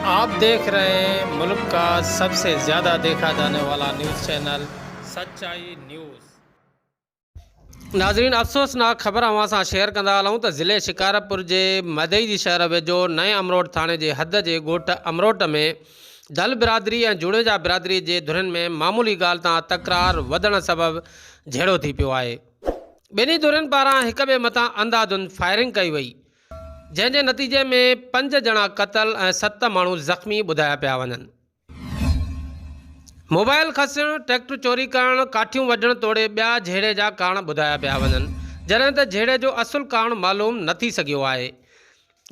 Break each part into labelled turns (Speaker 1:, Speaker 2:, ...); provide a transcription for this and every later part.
Speaker 1: آپ ديکھ رھي ھين ملڪ ڪا سب سي زياده ديکا جاني والا نيوز چينل سچائي نيوز. ناظرين افسوسناڪ خبر اوھان سان شيئر ڪندا ھلون ته ضلعي شڪارپور جي مھدئي جي شھر ويجھو نئين امروٽ ٿاڻي جي حد جي ڳوٺ امروٽ ۾ دھل برادري ۽ جوڻيجا برادري جي ڌرين ۾ معمولي ڳالھ تان تڪرار وڌڻ سبب جھيڙو ٿي پيو آھي ٻنھي ڌرين پاران ھڪ ٻئي مٿان انڌاڌند فائرنگ ڪئي وئي جنهن جي نتيجي ۾ پنج ڄڻا قتل ۽ ست ماڻهو زخمي ٻڌايا پيا وڃن. موبائل کسڻ، ٽريڪٽر چوري ڪرڻ، ڪاٺيون وڍڻ توڙي ٻيا جهيڙي جا ڪارڻ ٻڌايا پيا وڃن، جڏهن ته جهيڙي جو اصل ڪارڻ معلوم نه ٿي سگهيو آهي.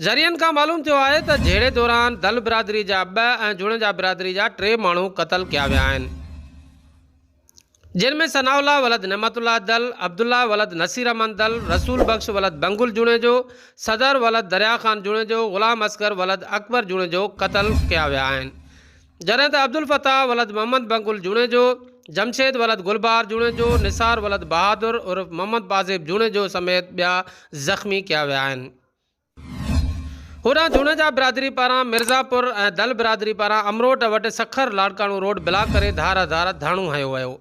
Speaker 1: ذريعن کان معلوم ٿيو آهي ته جهيڙي دوران دل برادري جا ٻه ۽ جوڻيجا برادري جا ٽي ماڻهو قتل ڪيا ويا آهن. جن ۾ ثناء الله ولد نعمت الله دل، عبدالله ولد نصير احمد دل، رسول بخش ولد بنگل جوڻيجو، صدر ولد دريا خان جوڻيجو، غلام اصغر ولد اڪبر جوڻيجو قتل ڪيا ويا آهن. جڏهن ته عبدالفتاح ولد محمد بنگل جوڻيجو، جمشيد ولد گل بهار جوڻيجو، نثار ولد بهادر عرف محمد پازيب جوڻيجو سميت ٻيا زخمي ڪيا ويا آهن. هوڏانهن جوڻيجا برادري پاران مرزاپور ۽ دل برادري پاران امروٽ وٽ سکر لاڙڪاڻو روڊ بلاڪ ڪري ڌار ڌار ڌرڻو هنيو ويو.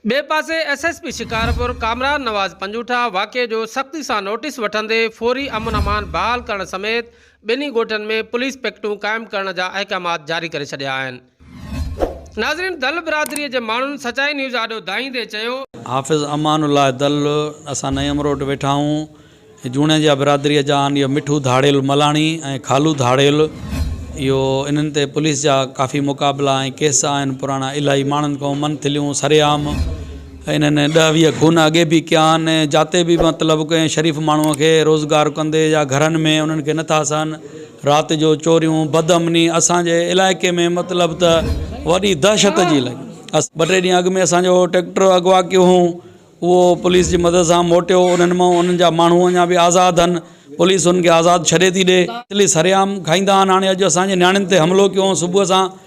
Speaker 1: ٻئي پاسي S S P Shikarpur Kamran Nawaz Punjotha واقعي جو سختي سان نوٽيس وٺندي فوري امن امان بحال ڪرڻ سميت ٻنهي ڳوٺن ۾ پوليس پڪيٽون قائم ڪرڻ جا احڪامات جاري ڪري ڇڏيا آهن. ناظرين دل برادري جي ماڻهن سچائي نيوز آڏو دانهيندي چيو. حافظ امان
Speaker 2: الله دل اسان نئين امروٽ ويٺا آهون جوڻيجا برادري جا آهن اهو مٺو ڌاڙيل ملاڻي ۽ خالو ڌاڙيل اهو انهن تي پوليس جا ڪافي مقابلا ۽ ڪيس آهن پراڻا الاهي ماڻهن ڪئون من ٿليون سري عام انهن ڏهه ويهه خون اڳي به ڪيا آهن جاتي به مطلب ڪنهن شريف ماڻهو کي روزگار ڪندي يا گهرن ۾ انهن کي نٿا سهن رات جو چوريون بدامني اسان جي علائقي ۾ مطلب ته وڏي دهشت جي لڳي اسان ٻه ٽي ڏينهن اڳ ۾ اسان جو ٽيڪٽر اغوا ڪيو هئون اهو پوليس جي مدد سان موٽيو انهن مان انهن جا ماڻهو اڃا به آزاد آهن پوليس انهن کي آزاد ڇڏي ٿي ڏي سري عام کائيندا آهن هاڻي اڄ اسان جي نياڻين تي حملو ڪيو هئون صبح سان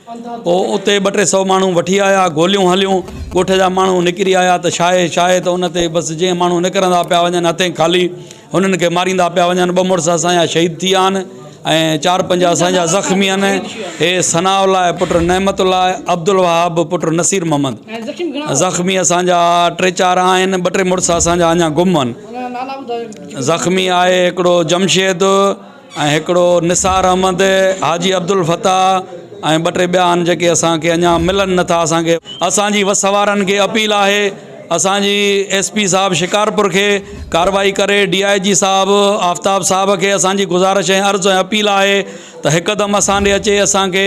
Speaker 2: پوء اتي ٻه ٽي سئو ماڻهو وٺي آيا، گوليون هليون، ڳوٺ جا ماڻهو نڪري آيا ته شاهي شاهي ته ان تي بس جئين ماڻهو نڪرندا پيا وڃن هٿين خالي هنن کي ماريندا پيا وڃن، ٻه مڙس اسان جا شهيد ٿي ويا آهن ۽ چار پنج اسان جا زخمي آهن، هي ثناء الله پٽ نعمت الله، عبدالوهاب پٽ نصير محمد زخمي اسان جا ٽي چار آهن، ٻه ٽي مڙس اسان جا اڃا گم آهن، زخمي آهي هڪڙو جمشيد. ۽ هڪڙو نثار احمد، حاجي عبدالفتاح ۽ ٻه ٽي ٻيا آهن جيڪي اسان کي اڃا ملن نه ٿا اسان کي. اسان جي وس وارن کي اپيل آهي اسان جي ايس پي صاحب شڪارپور کي ڪارروائي ڪري ڊي آء جي صاحب آفتاب صاحب کي اسان جي گذارش ۽ عرض ۽ اپيل آهي ته هڪدم اسان ڏي اچي اسان کي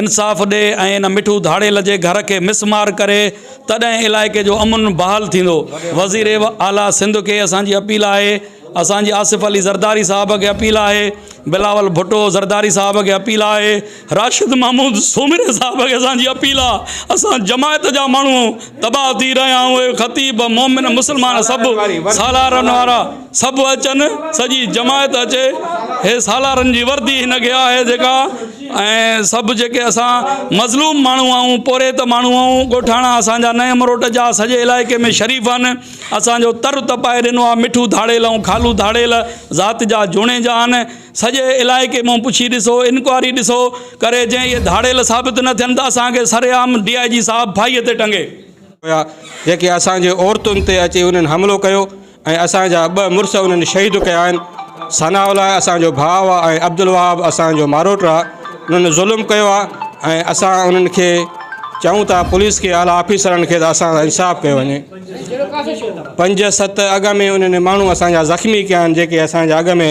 Speaker 2: انصاف ڏي ۽ ان مٺو ڌاڙيل جي گهر کي مس مار ڪري تڏهن علائقي جو امن بحال ٿيندو وزير اعليٰ سنڌ کي اسان جي اپيل آهي اسان جي آصف علي زرداري صاحب کي اپيل آهي، بلاول ڀٽو زرداري صاحب کي اپيل آهي، راشد محمود سومري صاحب کي اسان جي اپيل آ، اسان جماعت جا ماڻهو تباهه ٿي رهيا آهيون اهي خطيب مومن مسلمان سڀ سالارن وارا سڀ اچن سڄي جماعت اچي هي سالارن جي وردي هن کي آهي جيڪا ۽ سڀ جيڪي اسان مظلوم ماڻهو آهيون پورهيت ماڻهو آهيون ڳوٺاڻا اسان جا نئين مروٽ جا سڄي علائقي ۾ شريف آهن اسان جو تر تپائي ڏنو آ. مٺو ڌاڙيل ۽ خالو ڌاڙيل ذات جا جوڻيجا آھن. سڄي علائقي مون پڇي ڏسو، انڪوائري ڏسو ڪري جي اھي ڌاڙيل ثابت نه ٿين ته اسان کي سرعام ڊي آء جي صاحب ڦاھي تي ٽنگي. ھيا جيڪي
Speaker 3: اسان جي عورتن تي اچي انھن حملو ڪيو ۽ اسان جا ٻه مڙس انھن شھيد ڪيا آھن. ثناء الله اسان جو ڀاء آ ۽ عبدالوھاب اسان جو ماروٽ آ. انھن ظلم ڪيو آ ۽ اسان انھن کي چئون ٿا پوليس کي اعليٰ آفيسرن کي ته اسان سان انصاف ڪيو وڃي. پنج ست اڳ ۾ انهن ماڻهو اسان جا زخمي ڪيا آهن جيڪي اسان جا اڳ ۾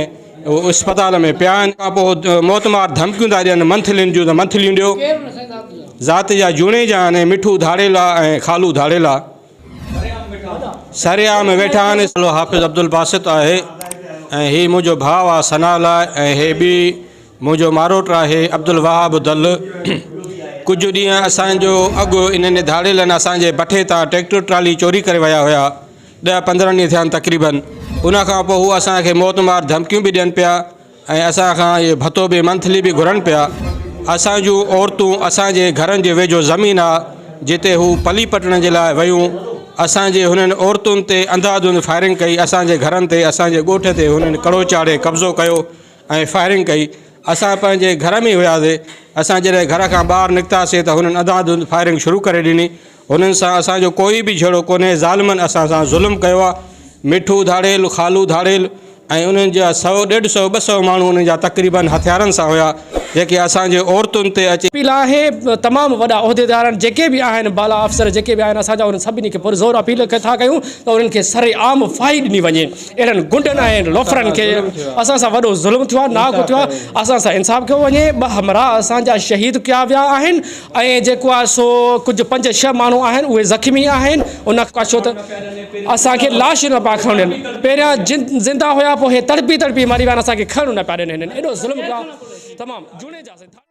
Speaker 3: اسپتال ۾ پيا آهن کان پوء موت مار ڌمڪيون ٿا ڏين منٿلين جون ته منٿليون ڏيو ذات جا جوڻيجا آهن ۽ مٺو ڌاڙيلا ۽ خالو ڌاڙيلا سري عام ويٺا آهن حافظ عبدالباسط آهي ۽ هي منهنجو ڀاء آهي ثناء لاء ۽ هي ٻي منهنجو ماروٽ آهي عبدالوهاب دل. ڪجهه ڏينهن اسان جو اڳ انهن ڌاڙيلن اسان جي بٺي تان ٽريڪٽر ٽرالي چوري ڪري ويا هيا. ڏهه پندرهن ڏينهن ٿيا آهن تقريبن. ان کان پوء هو اسان کي موت مار ڌمڪيون به ڏين پيا ۽ اسان کان اهي ڀتو به منٿلي به گهرن پيا. اسان جون عورتون اسان جي گهرن جي ويجهو زمين آ جتي هو پلي پٽڻ جي لاء ويون. اسان جي هنن عورتن تي انڌا ڌنڌ فائرنگ ڪئي. اسان جي گهرن تي، اسان جي ڳوٺ تي هنن ڪڙو چاڙهي قبضو ڪيو ۽ فائرنگ ڪئي اسان پنهنجي گهر ۾ ئي هياسي اسان جڏهن گهر کان ٻاهر نڪتاسي ته هنن انڌا ڌنڌ فائرنگ شروع ڪري ڏني هنن سان اسان جو ڪوئي به جهيڙو ڪونهي ظالمن اسان سان ظلم ڪيو آ مٺو ڌاڙيل خالو ڌاڙيل ۽ انهن جا سو ڏيڍ سو ٻه سو ماڻهو انهن جا تقريبن هٿيارن سان هيا جيڪي اسان جي عورتن تي اچي اپيل آهي تمام
Speaker 4: وڏا عهديدارن جيڪي به آهن بالا افسر جيڪي به آهن اسان جا انهن سڀني کي پرزور اپيل ٿا ڪيون ته انهن کي سرعام ڦاهي ڏني وڃي. اهڙن غنڊن ۽ لوفرن کي اسان سان وڏو ظلم ٿيو آهي ناحق ٿيو آهي اسان سان انصاف ڪيو وڃي ٻه همراهه اسان جا شهيد ڪيا ويا آهن ۽ جيڪو آهي سو ڪجهه پنج ڇهه ماڻهو آهن اهي زخمي آهن ان کان ڇو ته اسان کي لاشون نه پيا کڻن ڏين پهريان جن زنده هيا پوء هي تڙپي تڙپي مري ويا آهن اسان کي کڻڻ نه پيا ڏين هنن ايڏو ظلم ڪيو آهي تمام جوڻيجا سين